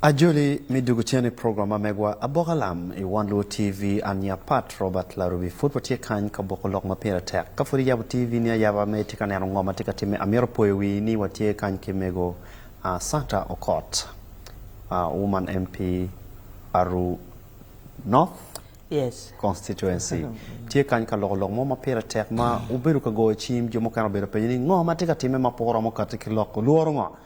Ajoli me dwogo cen i program ma megwa Aboka Lam i One Luo TV. An i a Pat Robert Larubi. Pud watye kany ka boko lok ma pire tek. Ka pud iyabo TV ni ayaba ma itye ka neno ngo ma tye ka timme, amito poyo wii ni watye kany ki mego Santa Okot, Woman MP Aru North Constituency. Tye kany ka loko lok mo ma pire tek ma obedo ka goyo cim. Jo mukene obedo ka penyo ni ngo ma tye ka timme ma pe oromo kati ki lok? Olworo ngo?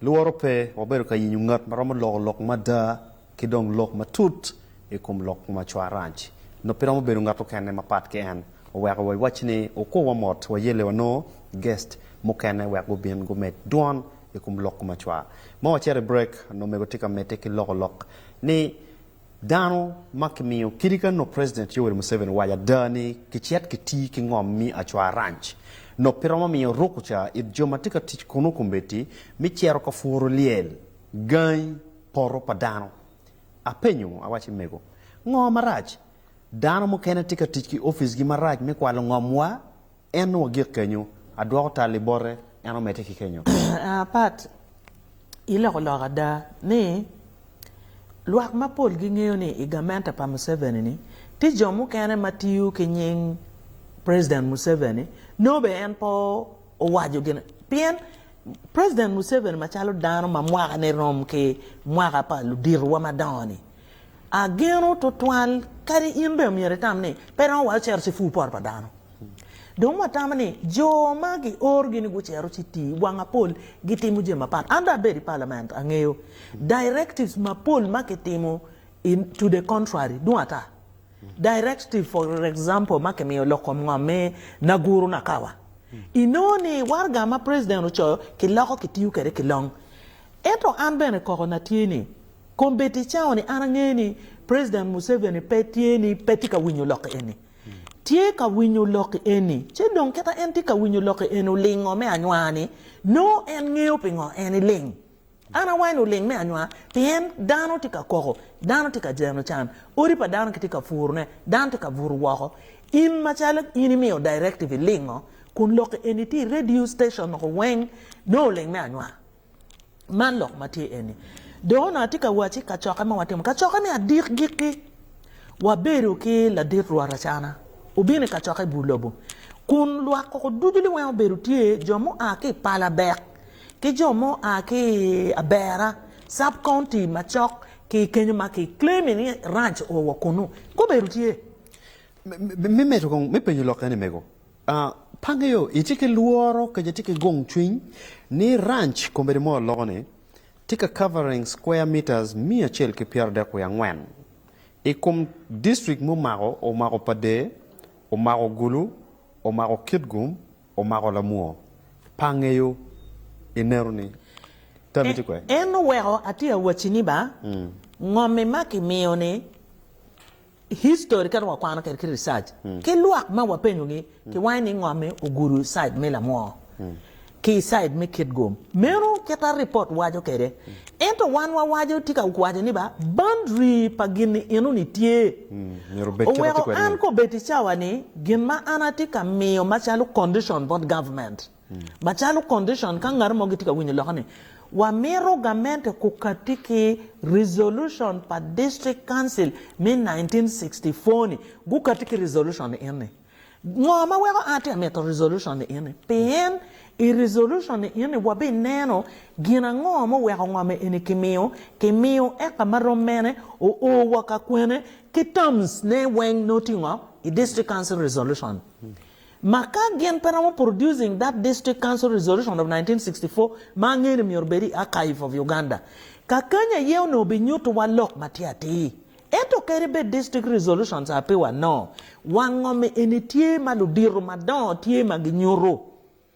Lworo pe, wabedo ka yenyo ngat ma romo loko lok mada ki dong lok matut i kom lok ma Cwaranj nongo pe romo bedo ngat okene mapat ki en. Oweko wa iwac ni okwowa mot, wayelle wanongo guest mukene wek gubin gumed dwon i kom lok ma cwa. Ma wacito i break, nongo omego tye ka medde ki loko lok ni Dano ma kimiyo kidi ka nop President Yoweri Museveni owaco ada ni kicit kiti ki ngom mi Acwa Ranch, nop pi romo miyo ruku ca it jo ma tye ka tic kunu kombeddi mi cito ka puru lyel gangi poto pa dano. Apenyo, awaci mego, ngo marac? Dano mukene tye ka tic ki ofisgi marac me kwalo ngomwa? En wagik kenyo, adwoko tal i bote, en omedde ki kenyo. Aa pat iloko lok ada ni lwak mapol gingeyo ni i gamente pa Museveni ni tye jo mukene ma tiyo ki nying President Museveni nongo bene en pe owaco gin pien President Museveni macalo dano ma mwakane rom ki mwaka pa luditowa madongo ni ageno tutwal kadi in bene myero itam ni pe romo wa ocito ci pur poto pa dano. Dong watamo ni jo ma giorgi ni gucito ci tii wang apol gitimo jami mapat. An dong abedo i parliament angeyo directives mapol ma kitimo in to the contrary dong ata directive for example ma kimiyo lok kom ngom me Naguru Nakawa inongo ni waraga ma president ocoyo kiloko kitiyo kwede ki long ento an bene koko na tye ni kombeddi cawa ni an angeyo ni president Museveni pe tye ni pe tye ka winyo lok eni. tye ka winyo lok eni, ci dong kita en tye ka winyo lok eni olingo me anywaa ni, nongo en ngeyo pingo en niling. An awaco ni oling me anywaa pien dano tye ka koko, dano tye ka jeno can, odi pa dano kitye ka puru ne, dano tye ka butu woko. In macalo in imiyo directive ilingo kun lok eni tye i radio station weng, nongo oling me anywaa. Man lok ma tye eni, dok onongo atye ka wacci kacokke ma watimo, kacokke me adikgikki, wabedo ki ladit rwatacana obino i kacokke i bur lobo, kun lwak koko ducu liweng obedo tye, jo mua ki i Palabek, ki jo mua ki i Abera, Sub County macok ki kenyo ma ki claim-mi ni Ranch oo wa kunu, gubedo tye. Me medo kong, me penyo lok eni, Mego. Pe angeyo itye ki lworo kadi atye ki gung cwiny ni ranch Kombedi mo loko ni tye ka covering square metres miya acel ki pyera dek wiye angwen I kom district mumako omako Pader, omako Gulu, omako Kitgum, omako Lamwor. Pe angeyo ineno ni tami tye kwee. En oweko atye awacci ni ba ngom ima ki miyo ni. History ka dong wakwano kede ki research ki lwak ma wapenyo gi ki wange ni ngome ogudo side me lamwor ki side me kitgum meno kita report waco kede ento wan wa waco tika waco ni ba boundary pa gini eno ni tye oweko an ka obed icawa ni gin ma an atye ka miyo macalo condition bot government. Macalo condition ka ngat mo gitye ka winyo loka ni, wamito gamente kukati ki resolution pa District Council me nineteen sixty four ni gukati ki resolution ni eni. Ngo ma weko an atye ka mito resolution ni eni? Pien i resolution ni eni wabineno gin ango ma oweko ngo ma eni kimiyo, kimiyo eka ma rom mene, o o wa ka kwene, ki terms ne weng ne otingo i District Council resolution. Ma ka gin pe romo producing that district council resolution of 1964 ma angeyo ni myero obed i archive of Uganda, kakany aye onongo binyuto wa lok matir atir. Ento kadi bed district resolutions apiwa no, wango me eni tye ma ludito madongo tye ma ginyuto.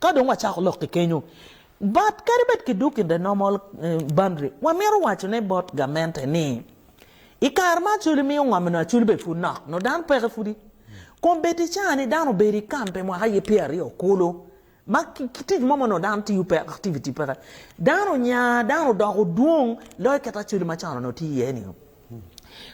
Ka dong wacako lok ki kenyo bot kadi bed ki duk i the normal boundary, wamito waco ne bot gamente ni i kare ma Acholi miyo ngom nyo Acholi bed pud nok nyo dano peke pudi kun bed i caa ni dano obedo i kam pi mwaka aye pyera aryo kulu ma ki tic mo ma nyo dano tiyo peke activity peke dano onya dano odoko dwong loyo kit Acholi macon nyo tye iye ni.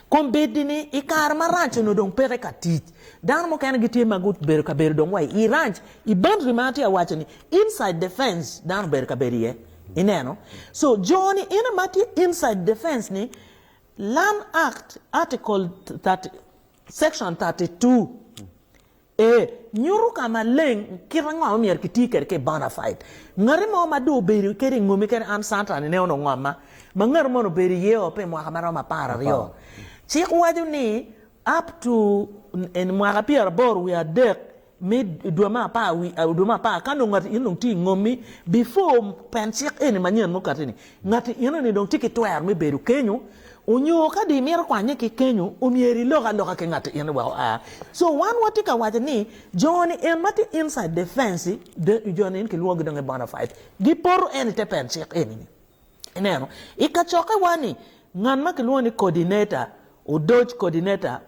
Kom bed ni i kare ma ranch onongo dong peke ka tic, dano mukene gitye ma gubedo ka bedo dong wa i ranch. I boundary ma atye ka waco ni, inside the fence dano obedo ka bedo iye. Ineno? So, jo ni ene ma tye inside the fence ni, Land Act, Article thirty, Section thirty two, E. Nyuto ka maleng kit ango ma myero kiti kwede ki bonafide. Ngati mo ma dong obedo kede i ngomi kadi an Cantani ne onongo ngomma, ma ngati moni obedo i iye o pi mwaka ma romo apar aryo. Cik waco ni up to in mwaka pyera aboro wiye adek me dwe me apar dwe me apar ka nongo ngati in onongo tye i ngomi before pen cik eni manyen mukatte ni Ngati enoni dong tye ki twero me bedo kenyo, onyo ka do imito kwanye ki kenyo, omyero ilok aloka ki ngati enoni wek oa. So wan watye ka waco ni joni en ma tye inside the fence-ci, joni en kilwongo gi dong ni bona fide, gipoto en ite pen cik enini. Ineno, ikacokke wa ni ngat ma kilwongo ni coordinator, odoc coordinator,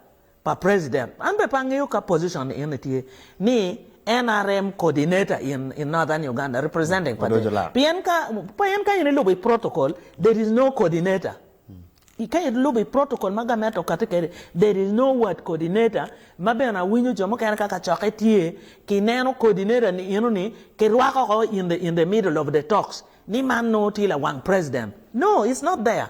pa president an bene pe angeyo ka position ni ene tye ni nrm coordinator in in northern Uganda representing pa dec pien ka pien ka in ilubo i protocol there is no coordinator i ka ilubo i protocol ma gamente okati kede there is no word coordinator ma bene awinyo jo mukene ka kacokke tye ki neno coordinator ni eno ni ki rwako oko in the in the middle of the talks ni man nongo tye lawang president no it's not there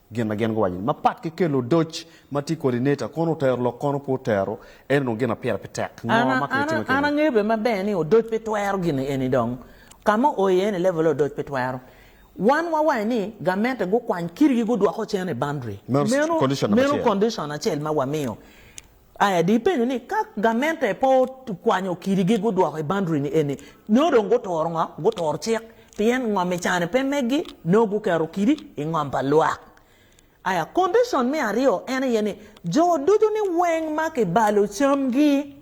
Gin ma gin guwaco-ni mapat ki kelo odoc ma tye kodi neta, kono otero lok kono pe otero, ento dong gin ma pire pe tek. Ngo An, ma an, an angeyo bene maber ni odoc pe twero gin eni dong. Ka ma oo iye ni level odoc pe twero. Wan wawaco ni gamente gukwany kitigi gudwoko cen i boundary. Meno, Meno condition number meno acel. condition acel ma wamiyo. Aya di penyo ni ka gamente pe okwanyo kidi gi gudwoko i boundary ni eni nongo dong guturo ngo? Guturo cik pien ngom i cane pe meggi nongo guketo kidi i ngom pa lwak. Aya condition me aryo en aye ni jo ducu ni weng ma kibalo camgi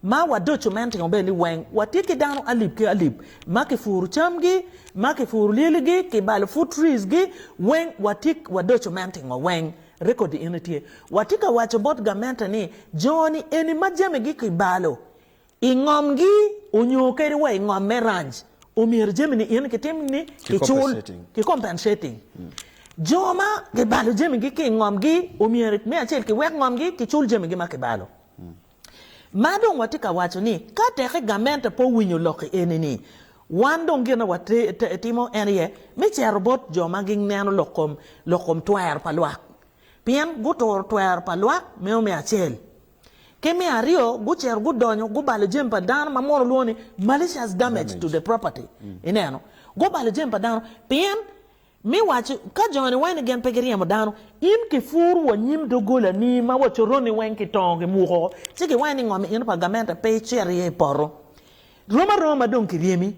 Ma wadoco meno timo bene ni weng watye ki dano alip ki alip ma kipuru camgi, ma kipuru lyeligi, kibalo food trees gi weng watye wadoco meno timo weng record eni tye. Watye ka waco bot gamente ni jo ni eni ma jamigi kibalo i ngom gi onyo kadi wa i ngom me ranch omyero jami ni eni kitim ni kicul ki compensating jo ma kibalo jamigi ki i ngom gi omyero me acel kiwek ngom gi kicul jamigi ma kibalo. Ma dong watye ka waco ni, ka teke gamente pe owinyo lokki eni-ni, wan dong gin ma watimo en aye me cito bot jo ma gineno lok kom twero pa lwak, pien guturo twero pa lwak meno me acel. Ki me aryo, gucito gudonyo gubalo jami pa dano ma mono lwongo ni malicious damage to the property, ineno, gubalo jami pa dano pien Mi wac ka joni wene gin pe giryemo dano. In kipur wa nyim dogolani ma wa coroni weng ki tongo ki muko ci ki wene ni ngom ino pa gamente pe icit iye ipoto. Rom aroma dong ki ryemi.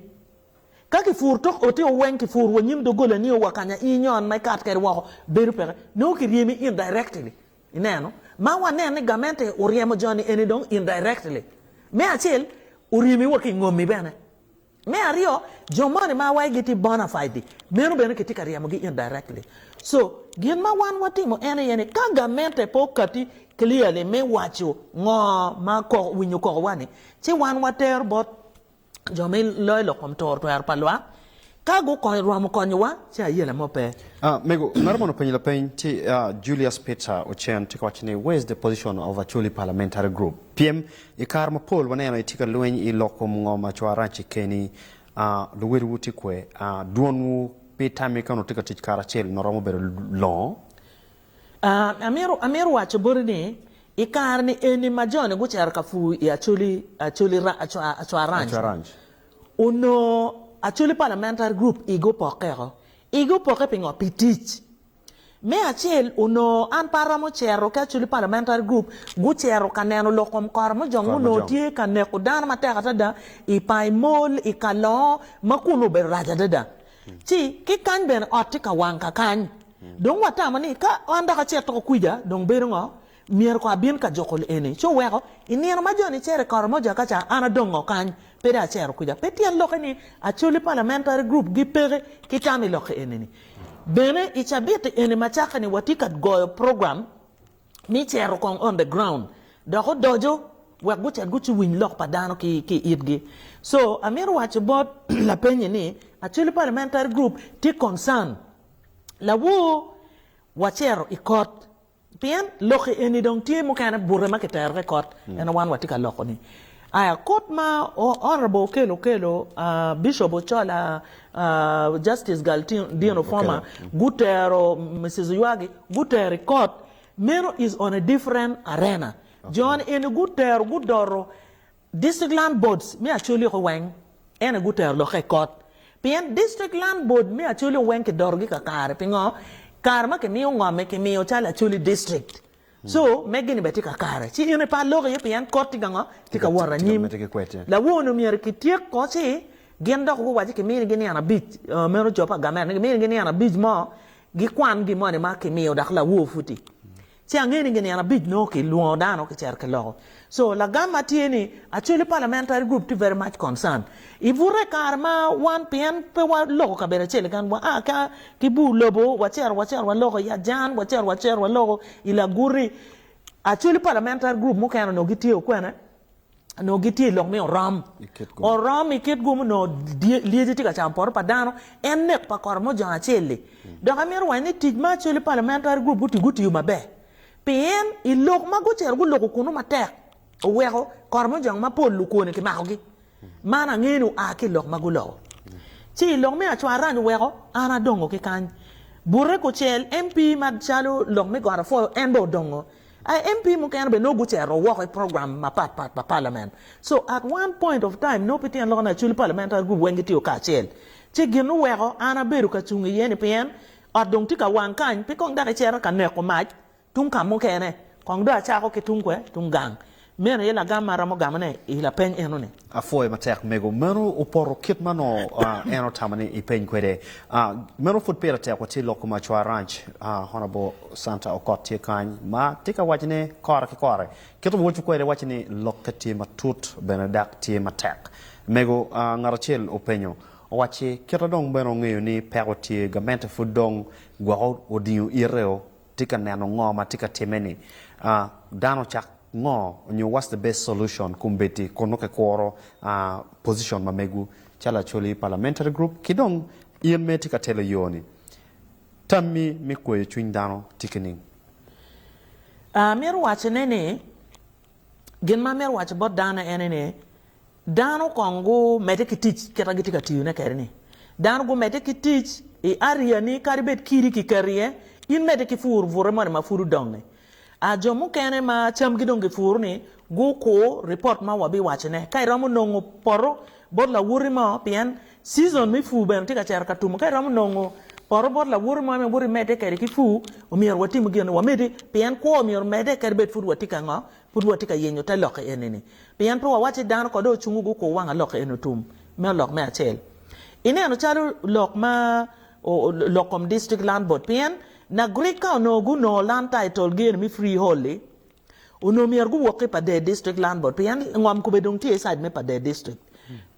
Ka ki pur tok oti o weng ki pur wa nyim dogolani o wa kanya in nyon ma ikat kede woko bedo peke nongo ki ryemi in directly ineno ma wa neno ni gamente oryemo joni eni dong in directly me acel oryemi wa ki ngomi bene Me aryo, jo moni ma awaci gitye bona fide di, meno bene kitye ka ryemogi indirectly. So, gin ma wan watimo en aye ni ka gamente pe okati clearly me waco ngo ma koko winyo kokowa ni, ci wan watero bot jo me loyo lok kom toro twero pa lwak, ka gukonyo romo konyowa ci aye lame ope. Ah, mego, ngato moni openyo lapeny ci, ah, Julius Peter Ocen tye ka waco ni, Where is the position of Acholi Parliamentary Group? Pyem I kare mapol waneno itye ka lweny i lok kom ngo ma cware rac i keni, luwotwu tye kwe, dwonwu pe tami ka onongo itye ka tic karacel ma romo bedo longo. Amito waco boti ni, i kare-ni eni ma jo-ni gucito ka pur i Acholi, Acholi, Acwa Ranch, onongo Acholi Parliamentary Group igi opokke woko. Igi opokke pingo? Pi tic. Me acel, onongo an pe aromo cito ki Acholi Parliamentary Group gucito ka neno lok kom kora ma jo ma onongo tye ka neko dano matek adada i Pai Mall i Kalongo ma kunnu obedo rac adada. Ci ki kany bene ot tye ka wang kakany. Dong watamo ni ka an dok acito kwija dong bedo ngo? Myero kong abin ka juko eni, ci oweko. I nino ma jo nicero i Karamoja ka ca, an adongo kany, pe dong acero kuca. Pe tyen lokke ni Acholi Parliamentary Group gipeke ki tam i lokke eni ni. Bene, i cabiti eni macake ni watye ka goyo program me cero kong on the ground dok odoco wek gucit guciwiny lok pa dano ki ki itgi. So, amito waco bot lapenyi ni Acholi Parliamentary Group tye concern lawo wacero i kot. Pien lokki eni dong tye mukene bute ma kiterogi i kot, ento wan watye ka loko-ni. Aya, kut ma Honourable Okello Okello, Bishop Ochola, Justice Galldin Ofoma gutero Mrs. Oyuagi gutero i kot, meno is on a different arena. Jo-ni eni gutero, gudoro. District Land Boards me Acholi oko weng ene gutero lokke i kot pien District Land Board me Acholi o weng kidorogi kakare pingo kare ma kimiyo ngome kimiyo calo Acholi District so megi ni bene tye kakare ci in ipa lok iye pien kot tye kango tye ka wot anyim lawono myero kityek ko ci gin dok guwaci kiminigi nino abic meno jo pa gamen ni kiminigi nino abic mo gikwan gimoni ma kimiyo dok lawo pud tye Ci angeyo ni ginino abic nongo ki lwongo dano ki cito ki loko. So lagam ma tye ni Acholi Parliamentary Group tye very much concerned I bute I kare ma wan pien pe wa loko kabedo acel keken wa a ka ki bur lobo wa cito wa cito wa loko I Ajan wa cito wa cito wa loko I Laguti Acholi Parliamentary Group mukene onongo gitye o kwene nongo gitye i lok me orom. Orom i kit gumo nongo lyeci tye ka camo poto pa dano. En nek pa kora mujongo acel-li. Mm. Dok amito wanyo ni tic ma Acholi Parliamentary Group guti gutiyo maber. Pien i lok ma gucito guloko kunu matek oweko kora mujongo mapol lukwone kimakogi. Man angeyo ni oa ki i lok ma guloko. Ci i lok me acwarany oweko an adongo ki kany. Bute kucel MP macalo lok me Got Afoyo en bene odongo. A MP mukene bene nongo gucito woko i program mapat pat pa palament. So, at one point of time, nongo pi tyen lok ni acwali parliamentary group weng gitiyo kacel. Ci gin oweko an abedo ka cung iye-ni pien ot dong tye ka wang kany, pe kong dok icito ka neko mac tung ka mukene, kong dong acako ki tung kwe? Tung gang. Meno aye lagam ma aromo gamone i lapeny enoni. Apwoyo matek mego. Meno opoto kit ma nongo en otamo ni ipeny kwede. Meno pud pire tek watye loko Macwa Ranch. Honourable Santa Okot tye kany ma tye ka wacone kore ki kore. Kit ma woco kwede waco ni lokke tye matut bene dak tye matek. Mego, ngat acel openyo, owacci, kita dong bene ongeyo ni peko tye, gamente pud dong gwoko odingo ite-o. Tye ka neno ngo ma tye ka time ni a dano cak ngo nyo what's the best solution kombeddi kun nongo kikuro a position ma megu calo Acholi parliamentary group ki dong in ma itye ka telo yo ni tammi me kweyo cwiny dano tye kining? Amito wacone ni. Gin ma amito waco bot dano ene ni, dano kong gumedde ki tic kit ma gitye ka tiyone kwede-ni. Dano gumedde ki tic i ariani kadi bed kidi kiketo iye, in medde ki pur bute moni ma pud odong-ngi. Jo mukene ma camgi dong gipuro-ni, gukur ripot ma wabiwacone. Ka iromo nongo poto bot lawoti mo pien Season me pur bene tye ka cito ka tum. Ka iromo nongo poto bot lawote mo ma woto imedde kwede ki pur, omyero watim gin ni wamedde pien kwo omyero omedde kadi bed pud watye ka ngo, pud watye ka yenyo te lok eni ni. Pien pe wawac ni dano ko dong ocungo gukur wanga lok eni otum. Meno lok me acel. Ineno calo lok ma lok kom district land board pien Nagrik ka onongo gunongo land title gi eni me freehold-di, Onongo myero guwok ki i Pader District Land Board pien ngom kome dong tye i side me Pader District.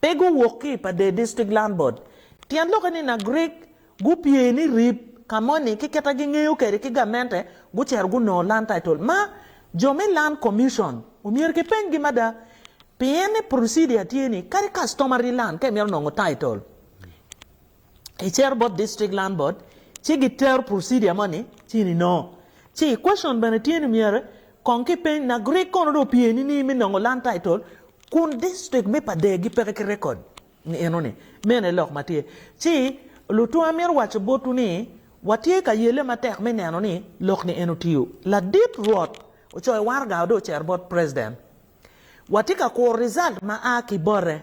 Pe guwok ki i Pader District Land Board. Tyen lokke ni Nagrik gupye ni rip ka moni ki kit ma gingeyo kwede ki gamente gucito gunongo Land Title. Ma jo me Land Commission omyero kipenygi mada pien ni procedure tye ni kadi customary land ka imito nongo title i cito bot District Land Board ci gitero procedure moni ci in inongo ci question bene tye ni myero kong ki peny nak rik kono dong opye nining me nongo Land Title kun District me pa Degi peke ki record ni eno ni meno aye lok ma tye ci lutwa amito waco botwu ni watye ka yelle matek me neno ni lok ni eno tiyo ladit Rwot ocoyo waraga wa dong ocito bot President watye ka kuro result ma a ki bote.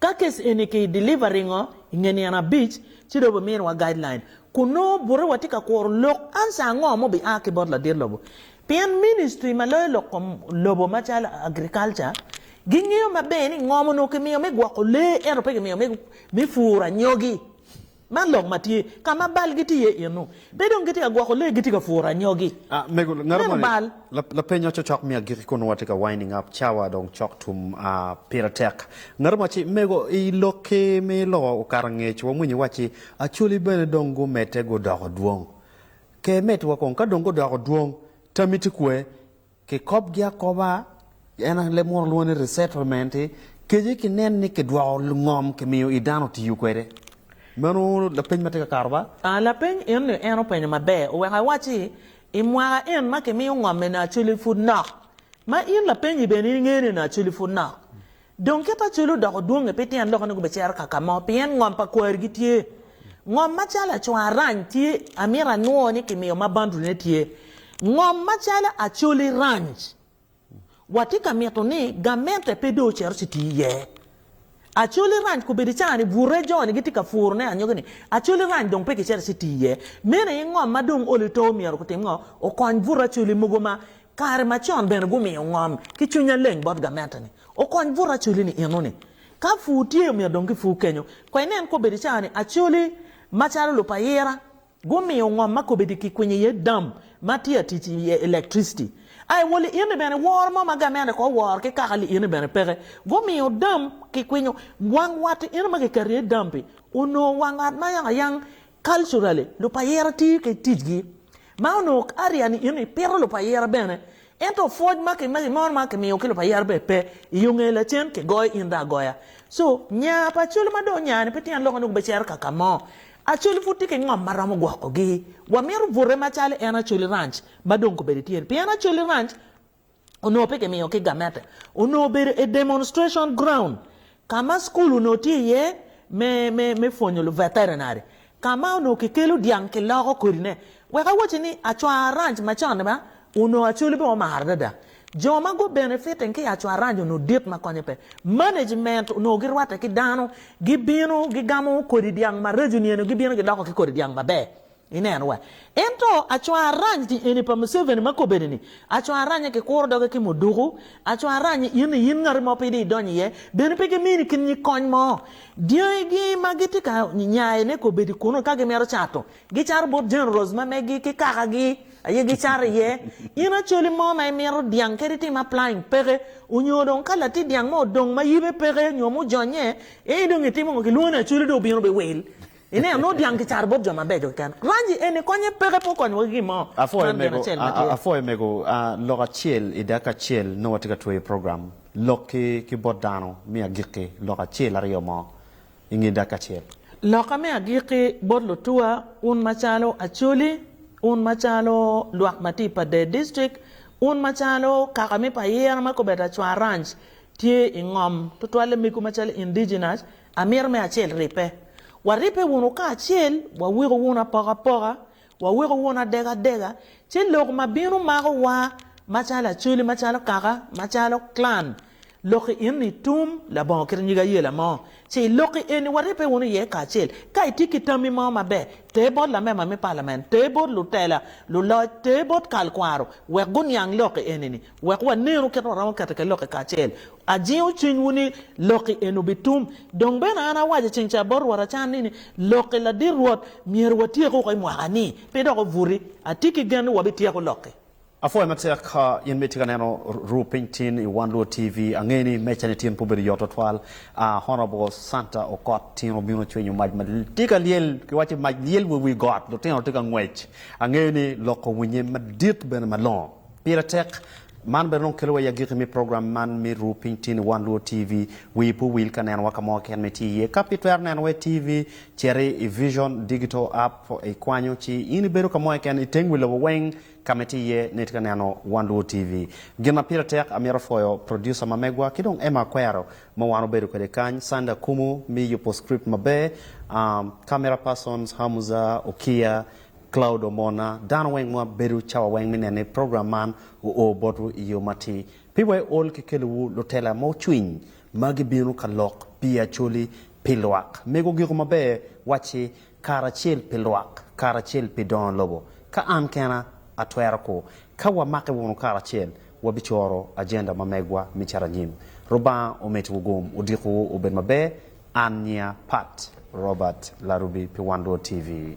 Ka kes eni ki deliver ringo i nge nino abic, ci dong bimirowa guideline kun nongo bute watye ka kuro lok answer ango ma obi a ki bot ladit lobo. Pien ministry ma loyo lok kom lobo macalo agriculture gingeyo maber ni ngom onongo kimiyo me gwoko lee ento pe kimiyo me puro anyogi. Man lok ma tye ka ma bal gitye iye eno. Pe dong gitye ka gwoko lee, gitye ka puro anyogi. Mego, Meno ngato moni bal. lap, lapeny ma cocok me agikki kun nongo watye ka winding up, cawa dong cok tum, ah, pire tek. Ngato mo wacci, Mego, i lokki me loko okato ngec, wamwinyo iwacci, Acholi bene dong gumedde gudoko dwong. Ke, medwa kong, ka dong gudoko dwong, tammi tye kwe? Kikobgi akoba, en aye leb muno lwongo ni resettlement, kece ki nen ni kidwoko ngom kimiyo i dano tiyo kwede. Meno lapeny ma tye ka kato ba? A Lapeny eni en openyo maber oweko awacci, I mwaka en ma kimiyo ngom-mi ni Acholi pud nok, ma in lapenyi bene inge ni ni Acholi pud nok, Dong kit acoli odoko dwonge pe tyen lokone gubicero ka ka mo, pien ngom pa kwari gitye. Ngom macalo acwar-rany tye, amito anwo ni kimiyo ma bundle ne tye. Ngom macalo acoli rany. Watye ka mito ni gamente pe dong ocito ci tii iye. Acoli rany kobedo icani bute joni gitye ka puro ne anyogi ni acoli rany dong pe kicito ci tii iye. Meno aye ngom ma dong olo ito omyero gutim ngo? Okony bute acoli mogo ma Kare macon bene gumiyo ngom ki cwiny aleng bot gamente-ni. Okony buto acoli-ni eno-ni. Ka pur tye, omyero dong kipur kenyo. Kong inen kobedi i cawa-ni, acoli macalo lupayira gumiyo ngom ma kobedi kikwinyo iye dam ma tye ka tic i elektriciti. A I wol-li eno-ni bene, woro mo ma gamente kong oworo ki kaka-li eno-ni bene peke. Gumiyo dam kikwinyo. Wang wat-ti eno ma kiketo iye dam-pi onongo wang wat ma yangayang, culturally, lupayira tiyo ki ticgi. Ma onongo kadi yani in ipito lupayira bene, ento pwoc ma gimoni ma gimiyo ki lupayira bene pe, iyo nge lacen kigoyo in dong agoya. So nya pa Acholi ma dong onya ni pe tyen lok onongo bicero ka ka mo. Acholi pud tye ki ngom ma romo gwoko gi. Wamito bute macalo en Acholi Ranch ma dong kobedo tye ni pien Acholi Ranch onongo pe kimiyo ki gamente, onongo obedo a demonstration ground ka ma school onongo tye iye me me me pwonyo lu veterinary ka ma onongo kikelo dyang kiloko kodi ne wek awacci ni Acwar Ranch ma con ni ma onongo Acholi bene omaro adada jo ma gu benefiting ki Acwar Ranch onongo dit ma konye pe management onongo gi rwatte ki dano gi bino gi gamo kodi dyang maraco niyeni gi bino gi loko ki kodi dyang maber. Ineno wa. Ento acwa arany ti eni pa Museveni ma kobeni ni, acwa aranye ki kuro doge ki muduku, acwa aranye in ni in ngati mo pidi idonyo iye, bene pe gi mini kin nyig kony mo. Dyangi gi ma gi ti ka nyaye ne kobedi kunu ka gi mito cato, gi cato bot Generals ma megi ki kaka gi aye gi cato iye. In Acholi mo ma imito dyang kadi tim applying peke, onyo dong ka lati dyang mo odong ma yibe peke onyo mujonnye, ee dong itimo ngo? Gi lwongo ni Acholi dong obino bi wil. Ineno, nongo dyang kicaro bot jo mabeco keken. Rangi eni konye peke pe okonyo wa ki gin mo. Man gin acel ma tye. Apwoyo mego. Lok acel i dakika acel nongo watye ka tweyo program lok ki ki bot dano me agikki lok acel aryo mo i nge dakika acel. Loka me agikki bot lutuwa, un macalo Acholi, un macalo lwak ma tye i Padee District, un macalo kaka me Payera ma kobeddi Acwa Ranch tye i ngom tutwal le megu macalo Indigenous, Amito me acel ribbe. Waribbe wunu kacel, wawiko wunu apokapoka, wawiko wunu adegadega, ci lok ma bino makowa macalo acoli, macalo kaka, macalo clan. Lokki in i tum, labongo kit nyig ayela mo, ci i lokki eni waribbe wunu iye kacel. Ka itye ki tammi mo maber, ter bot lamema me palament, ter bot lutela, luloc, ter bot kalkwaro wek guniang lokki eni-ni. Wek wanenu kit ma waromo keto ki Lok-ki kacel. Ajingo cwinywu ni Lok-ki eno bitum. Dong bene an awaco i ceng ca bot Rwot acanni ni, Lok-ki ladit Rwot myero watyeku woko i mwaka-ni, pe dok obuti. Atye ki gen ni wabityeko Lok-ki. Apwoyo matek ka in ma itye ka neno Ru Piny Tin i One Luo TV. Angeyo ni meca-ni tin pe obedo yot twatwal. Honourable Santa Okot tin obino cwinyo mac ma tye ka lyel, kiwaco mac lyel wa i wi got, lutino tye ka ngwec. Angeyo ni Lok owinye madit bene malongo. Pire tek. Man bene dong kelo wa i agiki me program man me Ru Piny Tin i One Luo TV. Wiyi pe owil ka neno wa ka mo keken ma itye iye. Ka pe itwero neno wa i TV, citi i Vision Digital App, ikwanyo ci in ibedo ka mo keken i teng wi lobo weng ka ma itye iye ni itye ka neno One Luo TV. Gin ma pire tek, amito pwoyo producer ma megwa ki dong Emma Akwero ma wan obedo kwede kany, Sunday Akumu me yubo script maber, um, camera persons Hamuza Okiya Cloud Omona, Dano weng ma bedo cawa weng mi nene program man oo botwu i yo matir. Pi wa i ol ki kelo wu lutela mo cwiny ma gi bino ka lok pi Acholi pi lwak mego giko maber waci karacel pi lwak karacel pi dono lobo. Ka an kena a twero ku ka wa make wunu karacel wa bi coro agenda ma megwa mi cito anyim. Rubanga omit wu gum odiko wu obed maber an nyiya Pat Robert Larubi pi Wan Luo TV.